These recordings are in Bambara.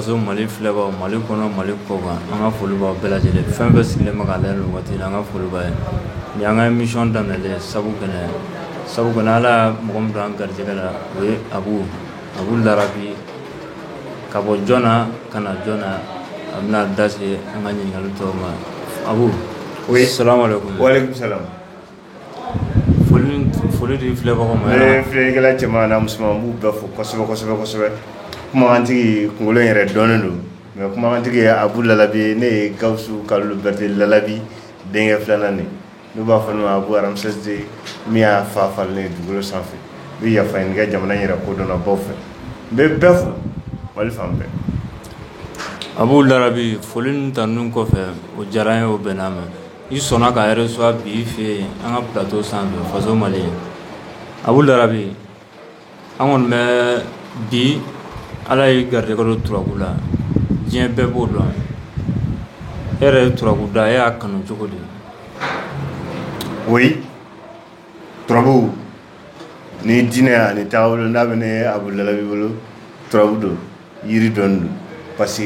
Faso mali filɛbagaw mali kɔnɔ mali kɔ kan an ka foli bɛɛ lajɛlen fɛn bɛɛ sigilen ma an ka foli ni an ka mi daminɛ sabu sabu ala mɔgɔ min an garijɛgɛ la o ye a a laki ka bɔ jɔnna ka na jɔn a bɛna da an ka ɲininkakali tɔw ma a o ye sa foli di filɛbagaw ma, ne filɛlikɛla cɛman ani musoman n b'u bɛɛ fo kosɛbɛ kosɛbɛ kosɛbɛ, kumakantigi kunkolo in yɛrɛ dɔnnen don mais kumakantigi ye Abu Lalabi ne ye Gawusu Kalilu Berete Lalabi denkɛ filanan nin n'u b'a fɔ ne ma Abu Ramsès min y'a fa falen ye dugukolo sanfɛ n bɛ yafa ɲini kɛ jamana in yɛrɛ kodɔnbaaw fɛ n bɛ bɛɛ fo Mali fan bɛɛ Abu Larabi foli ni tanuni kɔfɛ o diyara n ye o bɛnna n ma I sɔnna k'an reçoit bi i fɛ yen an ka plateau sanfɛ faso Mali Abu Larabi an kɔni bɛ bi ala y'i garijɛgɛ don turabu la diɲɛ bɛɛ b'o dɔn e yɛrɛ ye turabu da e y'a kanu cogo di o turabu ni diinɛ ani taabolo n'a bɛ ne Abu Lalabi bolo turabu dɔn yiri dɔn don parce que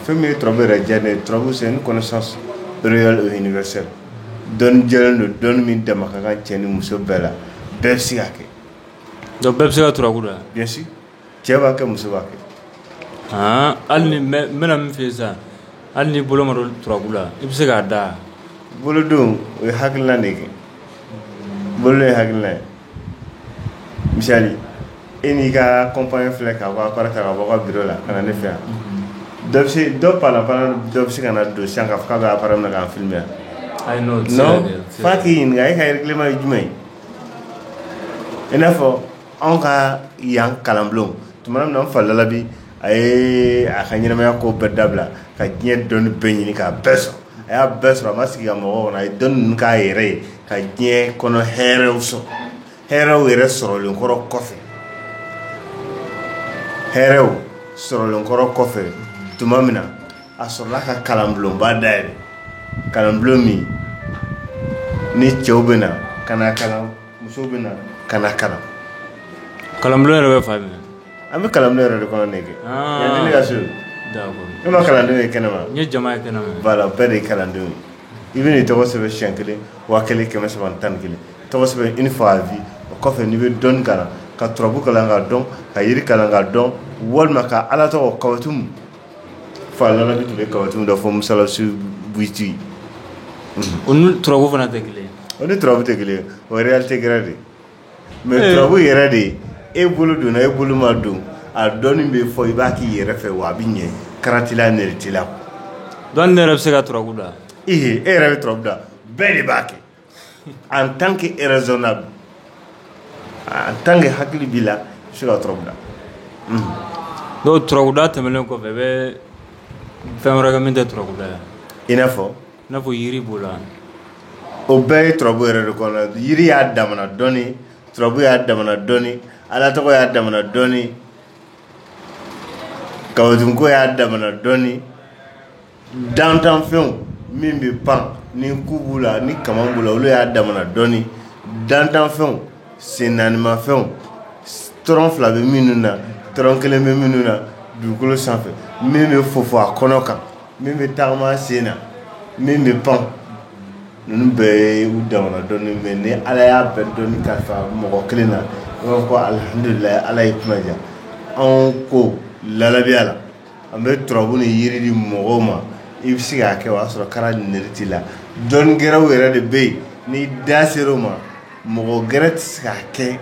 fɛn min ye turabu yɛrɛ diya ne ye turabu c'est une connaissance réelle et universelle dɔnni jɛlen don dɔnni min dama ka kan cɛ ni muso bɛɛ la bɛɛ bɛ se k'a kɛ donc bɛɛ bɛ se ka turabu da cɛ b'a kɛ muso b'a kɛ aa hali ni mɛ- n bɛna min fɔ sisan hali ni bolo ma don turabu la i bɛ se k'a da bolodon o ye hakilina de kɛ bolodon ye hakilina ye misali e n'i ka kɔnpani filɛ k'a fɔ appareil ta ka bɔ ka biro la ka na ne fɛ yan dɔ bɛ se dɔ panapana dɔ bɛ se ka na don sisan k'a fɔ k'a bɛ appareil minɛ k'an filime yan ayi n'o tɛ se ka non kɛ, o tɛ se ka f'a kɛ. k'i ɲininka e ka règlement ye jumɛn ye i n'a fɔ Anw ka yan kalanbulon tuma min na an fa Lalabi a ye a ka ɲɛnamaya ko bɛɛ dabila ka diɲɛ dɔnni bɛɛ ɲini k'a bɛɛ sɔrɔ a y'a bɛɛ sɔrɔ a ma sigi ka mɔgɔ kɔnɔ a ye dɔnni ninnu k'a yɛrɛ ye ka diɲɛ kɔnɔ hɛrɛw sɔrɔ hɛrɛw yɛrɛ sɔrɔlen kɔrɔ kɔfɛ hɛrɛw sɔrɔlen kɔrɔ kɔfɛ tuma min na a sɔrɔla ka kalanbulonba dayɛlɛ kalanbulon min ni cɛw bɛ na ka na kalan musow bɛ na ka na kalan kalanbulon yɛrɛ bɛ fan min an bɛ kalanbulon yɛrɛ de kɔnɔ nin kɛ ah. yan nin ne ka so e ma kalandenw ye kɛnɛ ma n ye jama ye kɛnɛ ma voilà bɛɛ de ye kalandenw ye i bɛ n'i tɔgɔ sɛbɛn siɲɛ kelen waa kelen kɛmɛ saba ni tan ni kelen tɔgɔ sɛbɛn une fois à vie o kɔfɛ n'i bɛ dɔnni kalan ka turabu kalan k'a dɔn ka yiri kalan k'a dɔn walima ka ala tɔgɔ kawatumu Fa Larabi tun bɛ kawatimu dɔ fɔ musalasi buyuti o ni turabu fana tɛ kelen o ni turabu tɛ kelen o ye réalité gɛrɛ de mais turabu yɛrɛ de e bolo donna e bolo ma don a dɔnni bɛ fɔ i b'a k'i yɛrɛ fɛ wa a bɛ ɲɛ kara t'i la nɛrɛ t'i la donc ne yɛrɛ bɛ se ka turabu da e e yɛrɛ bɛ turabu da bɛɛ de b'a kɛ an tan kɛ zson na an tan kɛ hakili b'i la su ka tda n'o tda tɛmɛnen kɔfɛ bɛ fɛn wɛrɛkɛ min tɛ tda yan i n'a fɔ n'a fɔ yiri b'o la o bɛɛ ye tbu yɛrɛ de kɔnɔ jiri y'a da dɔɔnin tbu y'a da dɔɔnin ala tɔgɔ y'a da dɔɔnin kawako y'a da dɔɔnin dantanfɛnw min bɛ pan ni ku b'u la ni kama b'u la olu y'a damana dɔnni dantanfɛnw sennaanimafɛnw tɔrɔn fila bɛ minnu na tɔrɔn kelen bɛ minnu na dugukolo sanfɛ min bɛ fofo a kɔnɔ kan min bɛ taama sen na min bɛ pan ninnu bɛɛ ye u damana dɔnni mais ni ala y'a bɛɛ dɔnni kalifa mɔgɔ kelen na i b'a fɔ alihamdulilayi ala y'e kunna diya anw ka Larabiya la An bɛ turabu ni yiri di mɔgɔw ma i bɛ se k'a kɛ o y'a sɔrɔ kara nɛrɛ t'i la dɔnni gɛrɛw yɛrɛ de bɛ yen ni da sera o ma mɔgɔ gɛrɛ tɛ se k'a kɛ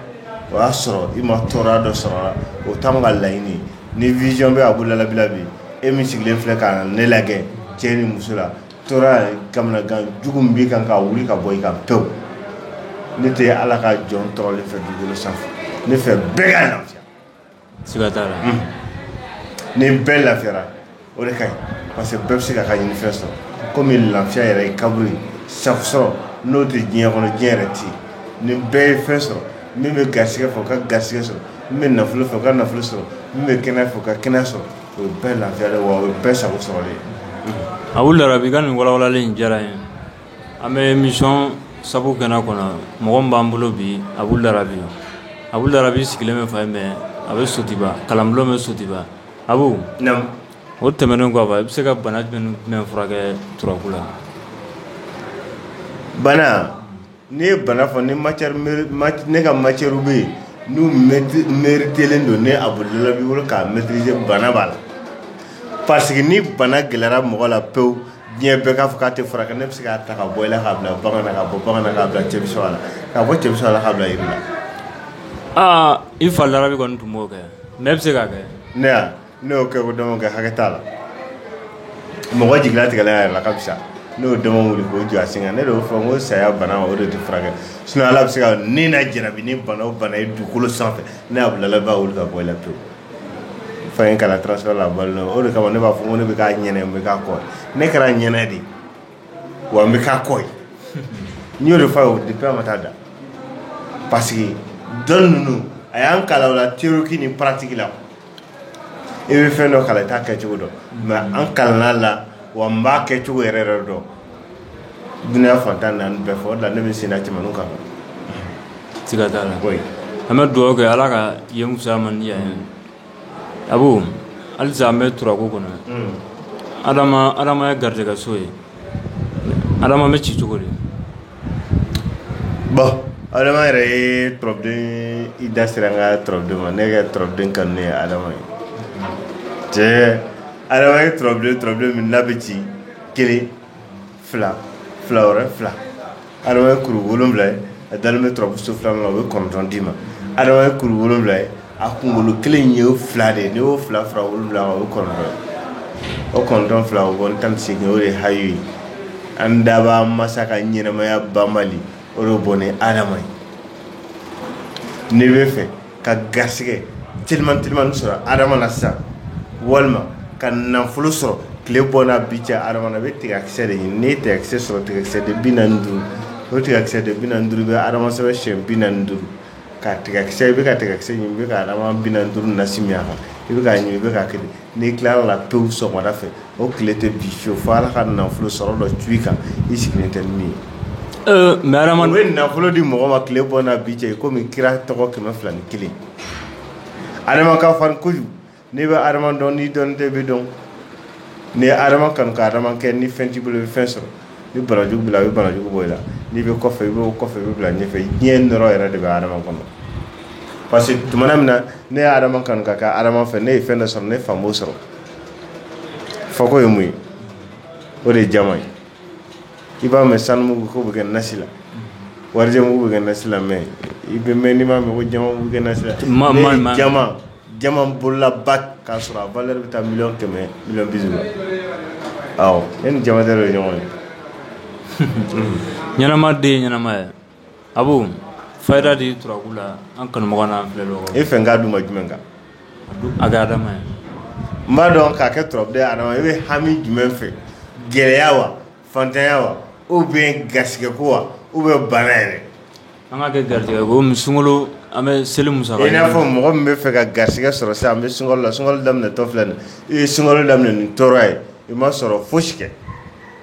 o y'a sɔrɔ i ma tɔɔrɔya dɔ sɔrɔ a la o t'an ka laɲini ni vision bɛ Abu Larabi la bi e min sigilen filɛ ka ne lajɛ cɛ ni muso la tɔɔrɔya kamanagan jugu min b'i kan ka wuli ka bɔ i kan pewu ne tɛ ala ka jɔn tɔɔrɔlen fɛ dugukolo sanfɛ ne fɛ bɛɛ ni bɛɛ lafiyara o de ka ɲi parce que bɛɛ bɛ se k'a ka ɲinifɛn sɔrɔ kɔmi lafiya yɛrɛ ye kaburu sa sɔrɔ n'o tɛ diɲɛ kɔnɔ diɲɛ yɛrɛ tɛ ni bɛɛ ye fɛn sɔrɔ min bɛ garisɛgɛ fɛ o ka garisɛgɛ sɔrɔ min bɛ nafolo fɛ o ka nafolo sɔrɔ min bɛ kɛnɛya fɛ o ka kɛnɛya sɔrɔ o ye bɛɛ lafiya ye wa o ye bɛɛ sago sɔrɔlen ye Abu Larabi ka nin walawalalen in diyara n ye An bɛ émission sabu kɛnɛ kɔnɔ mɔgɔ min b'an bolo bi Abu Larabi Abu Larabi sigilen bɛ fan jumɛn a bɛ Sotuba kalanbulon bɛ Sotuba Abu o tɛmɛnen kɔfɛ i bɛ se ka bana jumɛn furakɛ turabu la bana n'i ye bana fɔ ni ne ka matière bɛ yen n'u maîtrisélen don ne Abu Larabi bolo k'a maîtriser bana b'a la parce que ni bana gɛlɛyara mɔgɔ la pewu diɲɛ bɛɛ k'a fɔ k'a tɛ furakɛ ne bɛ se k'a ta ka bɔ i la k'a bila bagan na k'a bɔ bagan na k'a bila cɛmisɛn la k'a bɔ cɛmisɛn la k'a bila yiri la aa i fa larabi kɔni tun b'o kɛ mais e bɛ se k'a kɛ ne yan ne y'o kɛ k'o dama kɛ hakɛ t'a la mɔgɔ jigi latigɛlen a yɛrɛ la ka fisa ne y'o dama wuli k'o jɔ a sen kan ne de y'o fɔ n ko saya bana o de tɛ furakɛ sinon ala bɛ se ka ni na jarabi ni bana o bana ye dugukolo sanfɛ ne Abu Larabi b'a wuli ka bɔ i la pewu fa ye n kalan transfert la o de kama ne b'a fɔ ko ne bɛ ka ɲɛnɛ n bɛ ka kɔ ne kɛra ɲɛnɛ de wa n bɛ ka kɔ n y'o de fɔ a ye depuis a ma taa da parce que dɔn ninnu a y'an kalan la théorique ni pratique la i bɛ fɛn dɔ kalan i t'a kɛcogo dɔn mais an kalanna wa n b'a kɛcogo yɛrɛ yɛrɛ dɔn dunya fan tan naani bɛɛ fɔ la ne bɛ sen jamana kan siga t'a la an bɛ dugawu kɛ ala ka yen fisaya a ma di yan ye abu halisa an bɛ turaku kɔnɔ adama adama ye garijɛgɛ so ye adama bɛ ci cogo di bon adama yɛrɛ ye turabuden i da sera an ka turabuden ma ne ka turabuden kanunen ye adama ye cɛ adama ye turabuden turabuden min n'a bɛ ci kelen fila fila wɛrɛ fila adama ye kuru wolonwula ye a dalen bɛ turabuso filanan na o bɛ kɔnɔntɔn d'i ma adama ye kuru wolonwula ye a kunkolo kelen ye o fila de ye n'i y'o fila fara wolonwula kan o ye kɔnɔntɔn ye o kɔnɔntɔn fila o bɔ tan ni seegin o de ye hayu ye an daba masa ka ɲɛnɛmaya banbali o de bɔ ni adama ye n'i bɛ fɛ ka garisɛgɛ teliman teliman sɔrɔ adama na sisan walima ka nafolo sɔrɔ tile bɔ n'a bin cɛ adama na i bɛ tigakisɛ de ɲini n'i ye tigakisɛ sɔrɔ tigakisɛ den bi naani ni duuru o tigakisɛ den bi naani ni duuru i bɛ adama sɛbɛn siɲɛ bi naani ni duuru ka tigakisɛ i bɛ ka tigakisɛ ɲimi i bɛ ka adama bi naani ni duuru nasi min a kan i bɛ k'a ɲimi i bɛ k'a kɛ de n'i tilala pewu sɔgɔmada fɛ O tile tɛ bin fiyewu fo Ala ka nafolo sɔrɔ dɔ cun i kan i sigilen tɛ ni min ye, ee mais hadama, o bɛ nafolo di mɔgɔ ma tile bɔ n'a bin cɛ i komi kira tɔgɔ 201 hadama ka farin kojugu n'i bɛ hadama dɔn n'i dɔnnen tɛ i bɛ dɔn n'i ye hadama kanu ka hadama kɛ ni fɛn t'i bolo i bɛ fɛn sɔrɔ ni banajugu b'i la a bɛ banajugu bɔ i la n'i bɛ kɔfɛ i bɛ bɔ kɔfɛ i bɛ bila ɲɛfɛ diɲɛ nɔɔrɔ yɛrɛ de bɛ hadama kɔnɔ parce que tuma min na ne ye hadama kanu ka kɛ hadama fɛ ne ye fɛn dɔ sɔrɔ ne fa m'o sɔrɔ fa ko ye mun ye o de ye jaman ye i b'a mɛn sanumugu bɛ kɛ nasi la warijɛmugu bɛ kɛ nasi la mais i bɛ mɛn i m'a mɛn ko jaman mugu bɛ kɛ nasi la ne ye jaman bololaba k'a sɔrɔ a valeur bɛ taa million kɛmɛ million bi saba la awɔ ne ni jaman ye ɲɔgɔn ye ɲɛnama den ye ɲɛnama ye abu fayida di turabu la an kanubaga n'an filɛbaga e fɛ n k'a d'u ma jumɛn kan a kɛ adama ye n b'a dɔn k'a kɛ turabu e bɛ hami jumɛn fɛ gɛlɛya wa faantanya wa ou bien garisɛgɛ ko wa ou bien baara yɛrɛ an ka kɛ garijɛgɛ ko sunkalo an bɛ seli musaka i n'a fɔ mɔgɔ min bɛ fɛ ka garisɛgɛ sɔrɔ sisan an bɛ sunkalo la sunkalo daminɛtɔ filɛ i ye sunkalo daminɛ ni tɔɔrɔ ye i ma sɔrɔ fosi kɛ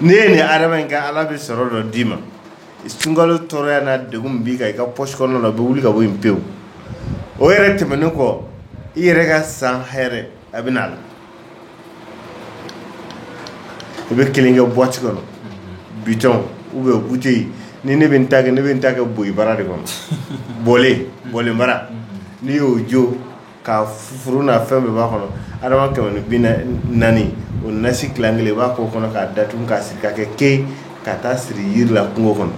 N'i ye nin adama in kɛ ala bɛ sɔrɔ dɔ d'i ma sunkalo tɔɔrɔya n'a degun b'i kan i ka pɔsi kɔnɔna na o bɛ wuli ka bɔ yen pewu o yɛrɛ tɛmɛnen kɔ i yɛrɛ ka san hɛrɛ a bɛ n'a la i bɛ kelen kɛ buwati kɔnɔ bitɔn ou bien buteli ni ne bɛ n ta kɛ boli bara de kɔnɔ bolen bara n'i y'o jo ka furu n'a fɛn bɛɛ b'a kɔnɔ adama kɛmɛ ni bi naani o nasi tila kelen i b'a k'o kɔnɔ k'a datugu k'a siri ka kɛ ke ka taa siri yiri la kungo kɔnɔ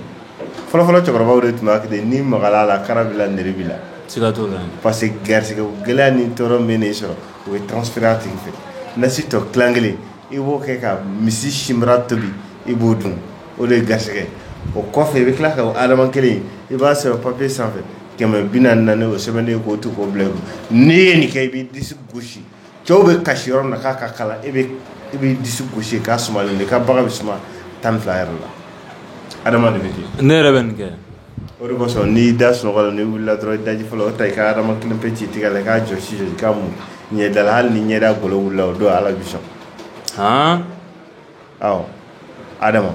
fɔlɔfɔlɔ cɛkɔrɔbaw de tun b'a kɛ ten n'i magala a la kara b'i la nɛri b'i la siga t'o la parce que garisɛgɛ gɛlɛya ni tɔɔrɔ min b'i sɔrɔ o ye transféré a tigi fɛ nasi tɔ tila kelen i b'o kɛ ka misi sinbara tobi i b'o dun o de ye garisɛgɛ o kɔfɛ i bɛ tila ka o adama kelen i b'a sɛbɛn papiye sanfɛ kɛmɛ ni bi naani ni naani o sɛbɛnnen k'o to k'o bila i kun n'i ye nin kɛ i b'i disi gosi cɛw bɛ kasi yɔrɔ min na k'a ka kalan i b'i disi gosi k'a sumalen de k'a baga bɛ suma tan ni fila yɛrɛ la adama de bɛ ten ne yɛrɛ bɛ nin kɛ o de kosɔn n'i da sunɔgɔ la n'i wulila dɔrɔn i daji fɔlɔ o ta i ka adama kelen pe c'i tɛgɛ la k'a jɔsi jɔsi k'a mun ɲɛda la hali ni ɲɛda golo wulila o don ala b'i sɔn adama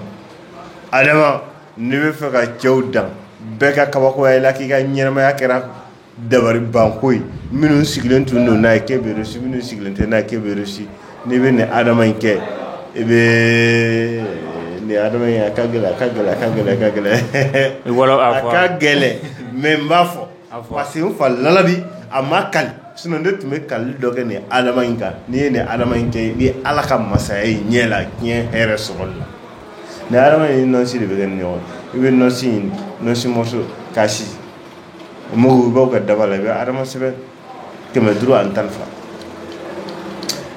adama n'i b'a fɛ ka cɛw dan bɛɛ ka kabakoya i la k'i ka ɲɛnamaya kɛra dabari banko ye minnu sigilen tun don n'a ye k'e bɛ réussi minnu sigilen tɛ n'a ye k'e bɛ réussi n'i bɛ nin adama in kɛ i bɛ nin adama in a ka gɛlɛn a ka gɛlɛn mɛ n b'a fɔ Parce que n fa lalabi a ma kali sinɔn ne tun bɛ kali dɔ kɛ nin adama in kan n'i ye nin adama in kɛ i bɛ ala ka masaya ye ɲɛ la diɲɛ hɛrɛ sɔrɔli la nin adama in nɔnsi de bɛ kɛ ni ɲɔgɔn i bɛ nɔnsi in nɔnsi mɔso k'a si o mugu i b'o k'a daba la i bɛ adama sɛbɛn kɛmɛ duuru ani tan fila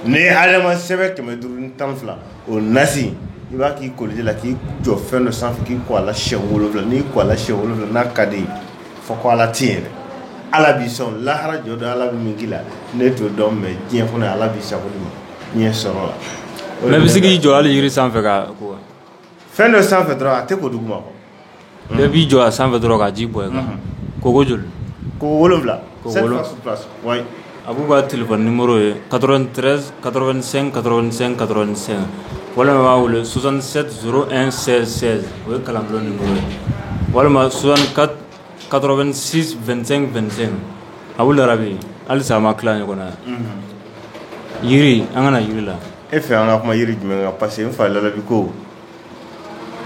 n'i ye adama sɛbɛn kɛmɛ duuru ni tan fila o nasi i b'a k'i koliji la k'i jɔ fɛn dɔ sanfɛ k'i ko a la siɲɛ wolowula n'i ko a la siɲɛ wolowula n'a ka d'i ye fɔ ko ala tɛ yen dɛ ala b'i sɔn lahara jɔ don ala bɛ min k'i la ne t'o dɔn mɛ diɲɛ kɔnɔ ala b'i sago d'i ma diɲɛ sɔrɔ la mɛ i bɛ se k'i jɔ hali yiri sanfɛ ka ko fɛn dɔ sanfɛ dɔrɔn a tɛ ko duguma kɔ bɛɛ b'i jɔ a sanfɛ dɔrɔn ka ji bɔn i kan ko ko joli ko wolonwula ko wolonwula A b'u ka tile nimo ye katoren katosen katosen katosen walima b'a wele sonsan n sɛ o ye kalan walima sonsan kato2sen2sen a arabi halisa a ma tila ɲɔgɔn na jiri an kana jiri la e fɛ an ka kuma jiri jumɛn pa que n fa labi ko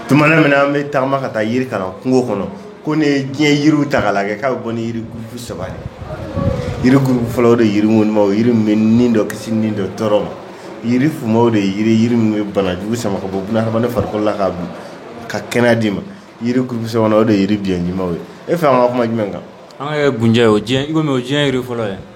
tuma min na an bɛ taama ka taa yiri kalan kungo kɔnɔ ko ne ye diɲɛ yiriw ta k'a lajɛ k'a bɛ bɔ ni yiri gurupu saba yiri gurupu fɔlɔ o de ye yiri ŋɔnimaw yiri min bɛ ni dɔ kisi ni dɔ tɔɔrɔ ma yiri fumaw de ye yiri min bɛ banajugu sama ka bɔ hadamaden fari la ka kɛnɛya d'i ma yiri gurupu sabanan o de ye yiri biɲɛjimaw ye e fɛ an ka kuma jumɛn kan an ka kɛ gunjɛ ye o diɲɛ o diɲɛ yiri fɔlɔ ye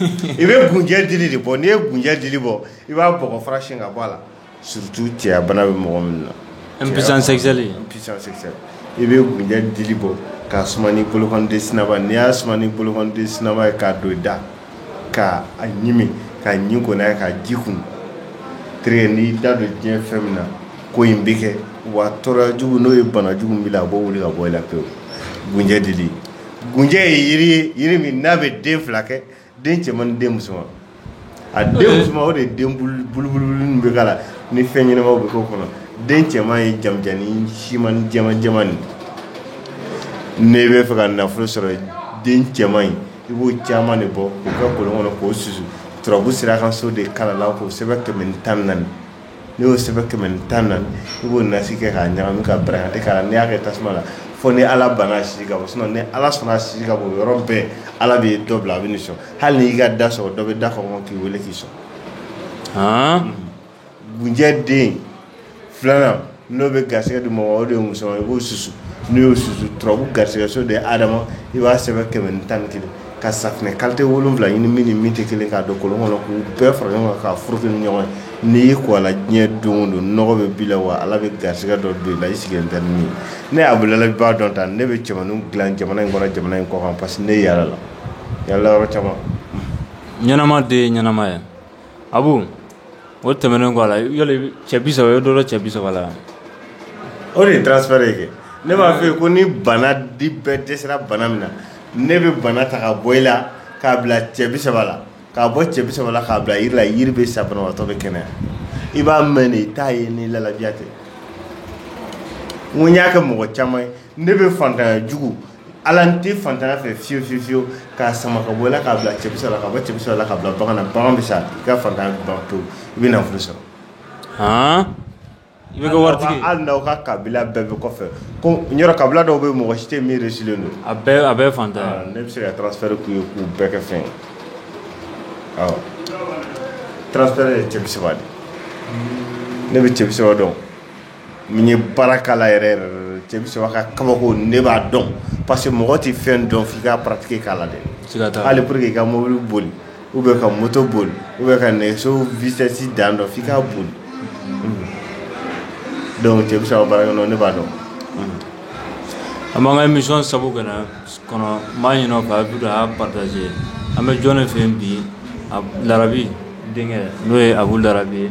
I bɛ gunjɛ dili de bɔ n'i ye gunjɛ dili bɔ i b'a bɔgɔ fara siyɛn ka bɔ a la surtout cɛya bana bɛ mɔgɔ min na impuissance sexuelle i bɛ gunjɛ dili bɔ k'a suma ni bolokɔniden saba n'i y'a suma ni bolokɔniden saba ye k'a don i da k'a ɲimi ka ɲi kɔnɔ ye k'a ji kunun terikɛ n'i da don diɲɛ fɛn min na ko in bɛ kɛ wa tɔɔrɔjugu n'o ye banajugu min b'i la a b'o wuli ka bɔ i la pewu gunjɛ dili gunjɛ ye yiri ye yiri min n'a bɛ den fila kɛ den cɛman ni den musoman a den musoman o de ye den bulubulu min bɛ k'a la ni fɛn ɲɛnamaw bɛ k'o kɔnɔ den cɛman ye janmanjannin siman jɛman nin n'i b'a fɛ ka nafolo sɔrɔ den cɛman in i b'o caman de bɔ k'u kɛ kolon kɔnɔ k'o susu turabu sira kan so de kalala k'o sɛbɛn kɛmɛ tan naani n'i y'o sɛbɛn kɛmɛ ni tan naani i b'o nasi kɛ k'a ɲagami ka barakante k'a la n'i y'a kɛ tasuma la fo ni ala banna a sisi ka bɔ sinon ni ala sɔnna a sisi ka bɔ yɔrɔ bɛɛ ala bɛ dɔ bila a bɛ n'i sɔn hali n'i y'i ka da sɔgɔ dɔ bɛ da kɔnkɔn k'i weele k'i sɔn gunjɛ den filanan N'o bɛ garisɛgɛ di mɔgɔ ma o de ye musoman i b'o susu n'i y'o susu turabu garisɛgɛso de ye ha adama i b'a sɛbɛn kɛmɛ ni tan kelen ka safunɛ kalite wolonwula ɲini min ni min tɛ kelen k'a don kolon kɔnɔ k'u bɛɛ fara ɲɔgɔn kan k'a furuki ni ɲɔgɔn ye n'i y'i ko a la diɲɛ don o don nɔgɔ bɛ b'i la wa ala bɛ garisɛgɛ dɔ don i la i sigilen tɛ ni min ye ne abudulayi b'a dɔn ta ne bɛ cɛmannin dilan jamana in kɔnɔ jamana in kɔ kan parce que ne yaalala yaala yɔrɔ caman ɲɛnama de ye ɲɛnama ye abu o tɛmɛnen kɔ a la cɛ bi saba o ye dɔ cɛ bi saba la o de ye transfert ye kɛ ne b'a f'i ye ko ni bana di bɛɛ dɛsɛra bana min na ne bɛ bana ta ka bɔ i la k'a bila cɛ bi saba la k'a bɔ cɛ bi saba la k'a bila yiri la yiri bɛ sa banabaatɔ bɛ kɛnɛya i b'a mɛn de i t'a ye ni lalabi ya tɛ n y'a kɛ mɔgɔ caman ye Ne bɛ fatanya jugu ala tɛ fatanya fɛ fiye fiye fiye k'a sama ka bɔ k'a bila cɛ la ka bɔ cɛ la ka bila bamanan bagan bɛ sa i ka fatan to i bɛ na furu sɔrɔ h i bɛ waati hali n'aw ka kabila bɛɛ bɛ kɔfɛ ko yɔrɔ kabila dɔw bɛ mɔgɔ si tɛ miiri sigilen don a a bɛ fa ne bɛ se ka taaraz fɛrɛɛrɛ tun ye k'u bɛɛ kɛ fɛn tarawele cɛ saba de ne bɛ cɛ saba dɔn min ye baara k'a la yɛrɛ yɛrɛ de, cɛ bi saba ka kabako ne b'a dɔn parce que mɔgɔ tɛ fɛn dɔn f'i k'a pratiquer k'a la dɛ, siga t'a la, hali pour que i ka mobili boli ou bien ka moto boli ou bien ka nɛgɛso vitesse dan dɔn f'i k'a boli, unhun, donc cɛ bi saba ka baara kɛ n'o ye ne b'a dɔn, unhun, an b'an ka émission sabu kɔnɔ n b'a ɲini aw fɛ a bɛ don a y'a partager an bɛ jɔn de fɛ yen bi Larabi denkɛ n'o ye Abu Larabi ye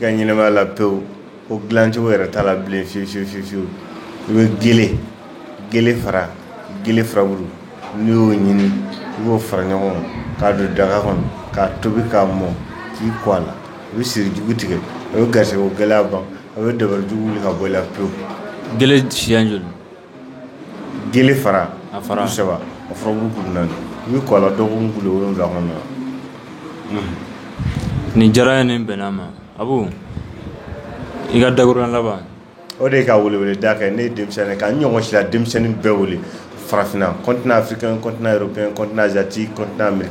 ka ɲɛnamaya la pewu o dilancogo yɛrɛ t'a la bilen fiyewu fiyewu fiyewu fiyewu i bɛ gele gele fara gele furabulu n'i y'o ɲini i b'o fara ɲɔgɔn kan k'a don daga kɔnɔ k'a tobi k'a mɔ k'i ko a la i bɛ sirijugu tigɛ a bɛ garisɛgɛko gɛlɛya ban a bɛ dabalijugu wuli ka bɔ i la pewu gele siya joli gele fara a fara saba a fara naani i bɛ kɔlɔn dɔgɔkun ku wolonwula kɔnɔ nin diyara ye nin bɛnna ma a i ka dakɔrɔ laban o de ka wele da kɛ ne denmisɛnnin ka ɲɔgɔn si denmisɛnnin bɛɛ wele farafinna kɔntfin kɔntan yɛrɛ kɔntan zti kɔntan mi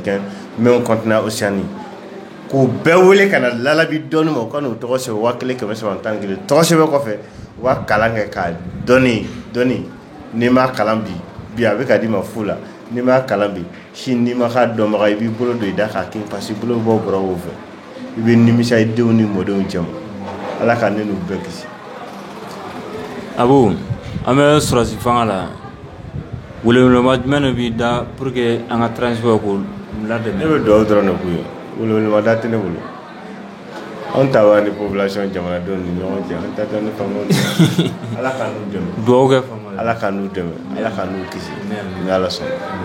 mɛ kɔntan oceani k'u bɛɛ wele ka na lalabi dɔnni ma u ka n'u tɔgɔ sɛbɛn waa kelen kɛmɛ saba tan kelen tɔgɔ sɛbɛn kɔfɛ u ka kalan kɛ ka dɔnni dɔn n'i ma kalan bi bi a bɛ ka d'i ma fu la n'i ma kalan bi sini n'i ma k'a dɔnbaga i b'i bolo don i da k'a kin parce que bolo bɛ bɔ bɔrɔw fɛ i bɛ nimisa i denw ni mɔdenw cɛma Ala ka ne n'u bɛɛ kisi Abu an bɛ sɔrɔdasi fanga la weleweleba jumɛn de b'i da pour que an ka transport ko la dɛmɛ ne bɛ dugawu dɔrɔn de k'u ye weleweleba da tɛ ne bolo anw ta b'an ni population jamanadenw ni ɲɔgɔn cɛ an taa ni ala ka dugawu ala k'an n'u dɛmɛ ala k'an n'u kisi n' ala sɔnna